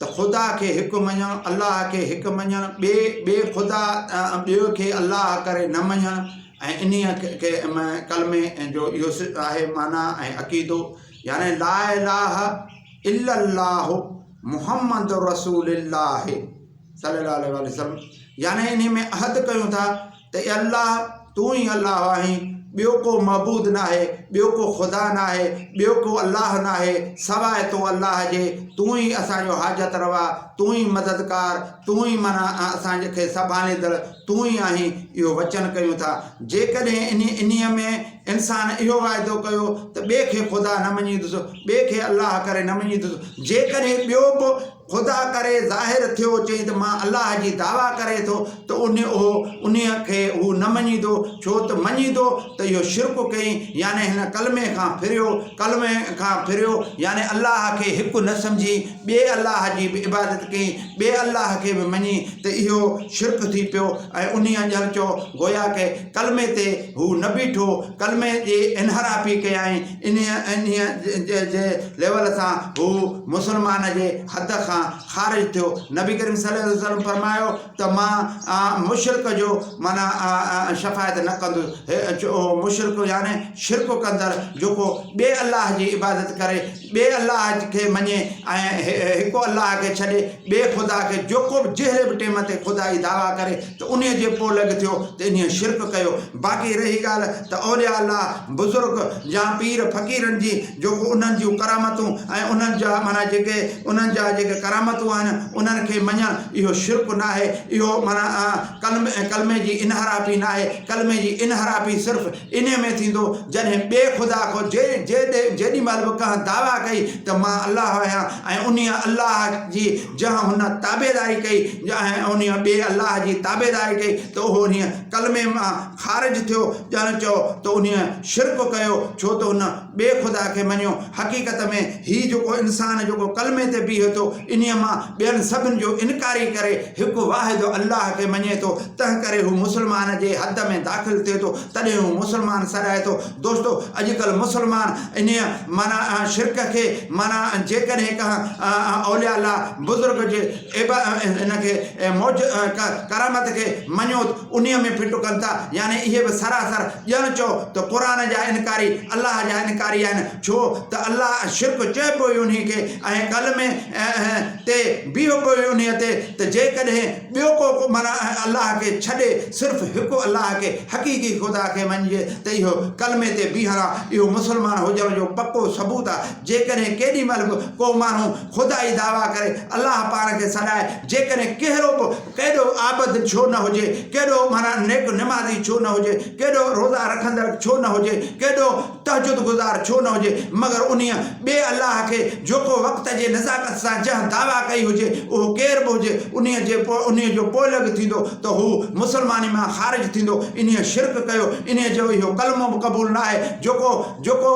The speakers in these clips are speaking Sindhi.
ته خدا کي هڪ مڃڻ، الله کي هڪ مڃڻ، ٻئي ٻئي خدا ۽ ٻئي کي الله ڪري نه مڃڻ ۽ انهيء کي ڪلمي جو اهو آهي معنيٰ ۽ عقيدو يعني لا اله الا الله محمد رسول الله صلي الله عليه واٰله وسلم يعني انهيء ۾ عهد ڪيون ٿا ته اي الله! تون ئي الله آهين، ٻيو ڪو معبود ناهي، ٻيو ڪو خدا ناهي، ٻيو ڪو الله ناهي سواء تو الله جي، تون ئي اسان جو حاجت روا، تون ئي مددگار، تون ئي منا ۽ اسان کي سنڀاليندڙ تون ئي آهين، اهو وچن ڪيون ٿا. جيڪڏهن انهي انهي ۾ انسان اهو واعدو ڪيو ته ٻئي کي خدا نه مڃيندس، ٻئي کي الله ڪري نه مڃيندس، جيڪڏهن ٻيو به، خدا ڪري ظاهر ٿيو چئي ته مان الله جي دعويٰ ڪري ٿو ته انهي اهو انهي کي هو نه مڃيندو ڇو ته مڃيندو ته اهو شرڪ ڪيئين يعني هن ڪلمي کان ڦريو ڪلمي کان ڦريو يعني الله کي هڪ نه سمجهي ٻئي الله جي به عبادت ڪيئين ٻئي الله کي به مڃي ته اهو شرڪ ٿي پيو ۽ انهي ڄڻ چئو گويا ڪه ڪلمي تي هو نه بيٺو ڪلمي جي انحرافي ڪيائين انهيء جي ليول سان هو مسلمان جي حد کان خارج ٿيو. نبي ڪريم صلي الله عليه وسلم فرمايو ته مان مشرڪ جو معنيٰ شفاعت نه ڪندس. اهو مشرڪ يعني شرڪ ڪندڙ جيڪو ٻئي الله جي عبادت ڪري، ٻئي الله کي مڃي ۽ هڪ الله کي ڇڏي ٻئي خدا کي جيڪو به جهڙي به ٽيم تي خدا جي دعويٰ ڪري، ته انهيء جي پوء لڳ ٿيو ته انهيء شرڪ ڪيو. باقي رهي ڳالهه ته اولياء الله، بزرگ يا پير فقيرن جي جو ڪو انهن جون ڪرامتون ۽ انهن جا معنيٰ جيڪي انهن جا جيڪي ڪرامتون آهن انهن کي مڃڻ اهو شرڪ ناهي اهو معنيٰ ڪلمي ڪلمي جي انحرافي ناهي ڪلمي جي انحرافي صرف انهيء ۾ ٿيندو جڏهن ٻئي خدا کان جي جي جيڏي مهل به ڪنهن دعويٰ ڪئي ته مان الله آهيان ۽ انهيء الله جي جنهن هن تابعداري ڪئي ۽ انهيء ٻئي الله جي تابعداري ڪئي ته اهو انهيء ڪلمي مان خارج ٿيو ڄڻ چئو ته انهيء شرڪ ڪيو ڇو ته هن ٻئي خدا کي مڃيو. حقيقت ۾ هي جيڪو انسان جيڪو ڪلمي تي بيهي ٿو انهيء مان ٻين سڀن جو انڪاري ڪري هڪ واحد الله کي مڃي ٿو تنهنڪري هو مسلمان جي حد ۾ داخل ٿئي ٿو تڏهن هو مسلمان سڏائي ٿو دوستو اڄ ڪلهه مسلمان انهيء معنيٰ شرڪ کي معنيٰ جيڪڏهن ڪنهن اولياء الله بزرگ جي عب ان کي معج ڪرامت کي مڃوت انهيء ۾ ڦٽ ڪن ٿا يعني اهي به سراسر ڄڻ چئو ته قرآن جا انڪاري الله جا انڪاري آهن ڇو ته الله شرڪ چئبو ئي انهيء کي ۽ ڪلمي تي بيهبو ئي انهيء تي ته جيڪڏهن ٻيو ڪو معنيٰ ۽ الله کي ڇڏي صرف هڪ الله کي حقيقي خدا کي مڃجي ته اهو ڪلمي تي بيهاران اهو مسلمان هجڻ جو پڪو ثبوت آهي جيڪڏهن ڪيڏي مهل به ڪو ماڻهو خدائي دعويٰ ڪري الله پاڻ کي سڏائي جيڪڏهن ڪهڙو به ڪيڏو عابد ڇو نه هجي ڪيڏو معنيٰ نيڪ نمازي ڇو نه هجي ڪيڏو روزا رکندڙ ڇو نه هجي ڪيڏو تهجد گذار ڇو نه هجي مگر انهيء ٻئي الله کي جو ڪو وقت جي نزاڪت سان جنهن دعويٰ ڪئي هجي اهو ڪير به هجي انهيء جي پوء انهيء جو پوئلڳ ٿيندو ته هو مسلماني مان خارج ٿيندو انهيء شرڪ ڪيو انهيء جو اهو ڪلمو به قبول نه آهي جو ڪو جو ڪو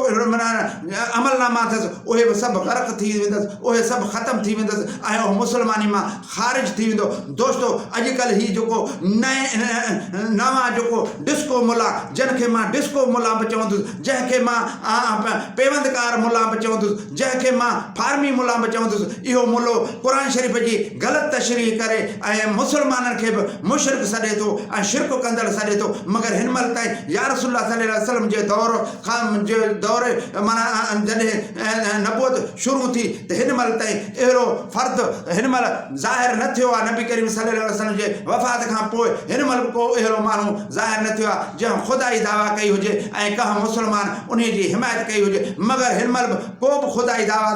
عملناما اٿس اهي به سڀ غرق ٿي ويندس اهي سڀ ختم ٿي ويندس ۽ اهو مسلماني مان خارج ٿي ويندو دوستو اڄ ڪلھ ھي جيڪو نئنوان جيڪو ڊسڪو ملا جنھن کي مان ڊسڪو ملا به چوندس جنھن کي مان پيوند ڪار ملا به چوندس جنھن کي مان فارمي ملا به چوندس اھو ملو قرآن شريف جي غلط تشريح ڪري ۽ مسلمانن کي به مشرڪ سڏي ٿو ۽ شرڪ ڪندڙ سڏي ٿو مگر ھن مھل تائين يارسول الله صلي الله عليه وسلم جي دور کان جي دور معنيٰ جڏھن نبوت شروع ٿي ته ھن مھل تائين اهڙو فرد هن مهل ظاهر نه ٿيو آهي، نبي ڪريم صلي الله عليه وسلم جي وفات کان پوء هن مهل به ڪو اهڙو ماڻهو ظاهر نه ٿيو آهي جنهن خدائي دعويٰ ڪئي هجي ۽ ڪنهن مسلمان انهي جي حمايت ڪئي هجي مگر هن مهل به ڪو به خدائي دعويٰ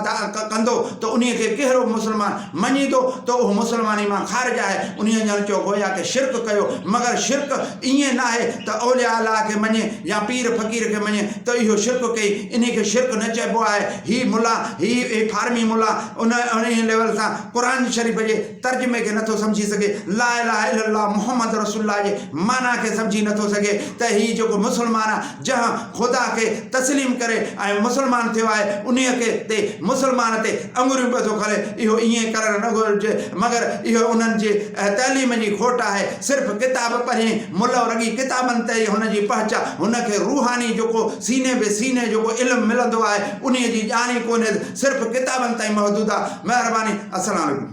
ڪندو ته انهي کي ڪهڙو به مسلمان مڃيندو ته اهو مسلماني مان خارج آهي انهي ڄڻ چئو گويا ڪي شرڪ ڪيو مگر شرڪ ائين ناهي ته اولياء الله کي مڃي يا پير فقير کي مڃي ته اهو شرڪ ڪئي انهي کي شرڪ نه چئبو آهي. هي ملا، هي فارمي ملا ان انهيء ليول سان قرآن شريف جي ترجمي کي نٿو سمجهي سگهي، لا اله الا الله محمد رسول الله جي معنيٰ کي سمجهي نٿو سگهي ته هي جيڪو مسلمان آهي، جنهن خدا کي تسليم ڪري ۽ مسلمان ٿيو آهي، انهيء کي تي مسلمان تي اڱريون پيو ٿو کري، اهو ائين ڪرڻ نه گهرجي، مگر اهو انهن جي تعليم جي کوٽ آهي، صرف ڪتاب پڙهين ملو رڳي ڪتابن تي ئي هن جي پهچ آهي، هن کي روحاني جيڪو سيني به سيني جيڪو علم ملندو آهي انهي جي ڄاڻ ئي ڪونهي ته صرف ڪتابن تائين محدود آهي مهرباني السلام عليڪم.